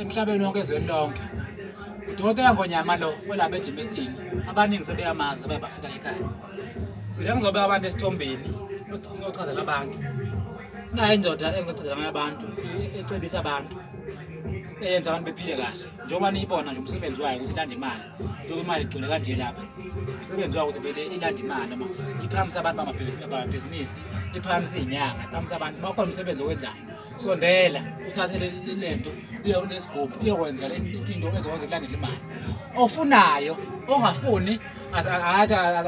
emhlabeni wonke ezweni lonke udokotela ngonyama lo olapha ejimistini abaningi sebeyamazi abaye bafika ekhaya ngile ngizobeka abantu esithombeni oyochazela abantu nayo indoda engizochazela ngayo abantu ecebisa abantu eyenza abantu bephile kahle njengoba niyibona nje umsebenzi wayo ukuthi ilanda imali njengoba imali igcwele kanje lapha umsebenzi wayo ukuthi vele ilanda imali noma iphakamisa abantu bamabhizinisi iphakamisa iy'nyanga iphakamisa abantu bakhona umsebenzi owenzayo sondela uthathe lento uye kulesigubhu uyokwenza into ezokwazi kulandela imali ofunayo ongafuni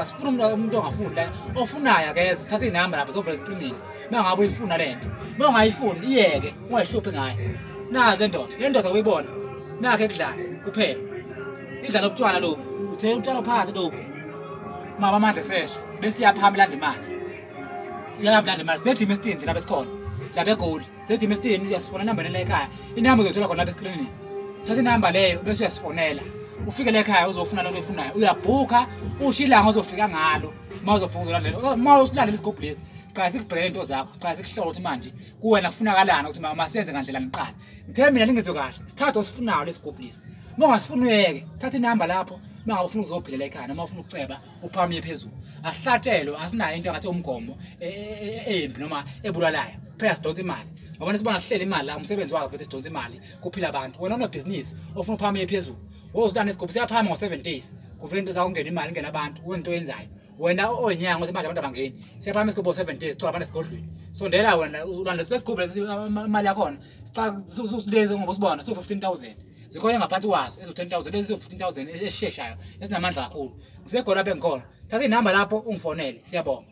asifuni umuntu ongafuni la ofunayo akeze thatha inamba lapha zovela esikrinini uma ngabe uyifuna le nto uma ungayifuni iyeke ungayihluphi ngayo nazi le ndoda le ndoda uyibona nakho ekudlala kuphela idlala ubutshwala lobu uthe utshwala phansi lobu mama amandla esesho besiyaphama ilanda imali uyangabulali manje sejima esitini lapha esikhona lapha egoli sejima esitini uyasifona inamba nela ekhaya inamba uzoyithola khona lapha esikrinini thatha inamba leyo bese uyasifonela ufike la ekhaya uzofuna lento oyifunayo uyabhukha usho ilanga ozofika ngalo uma uzofika uzolandela uma usilandela isigubhu lesi qala sikubhekele into zakho qala sikuhlola ukuthi manje kuwena kufunakalani ukuthi masenze ngandlela niqala ngithe mina ningenzo kahle sithathe osifunayo lesigubhu lesi uma ungasifuni uyeke thatha inamba lapho uma ngabe ufuna ukuzophilela ekhaya noma ufuna ukuceba uphakame phezulu asihlatshelwe asinayo into ngathi umgomo e, e, e, embi noma ebulalayo phela sidonsa imali ngoba nesibona sihlele imali la umsebenzi wakho futhi sidonsa imali kuphila abantu wena unebhizinisi ofuna uphakame phezulu wozilana isigubhu siyaphakama ngo-seven days kuvela into zakungena imali ingena abantu wenza into oyenzayo wena onyanga ukuthi manje abantu abangeni siyaphakama isigubhu ngo-seven days sicela abantu esigodlweni sondela wena ulandela lesigubhu lesi imali yakhona siqalesi ngoba usibona siwu-fifteen thousand zikhona ngaphansi kwaso eziwu-10000 lezi ziwu-15000 ezisheshayo ezinamandla kakhulu ngisegona bengikhona thatha inamba lapho ungifonele siyabonga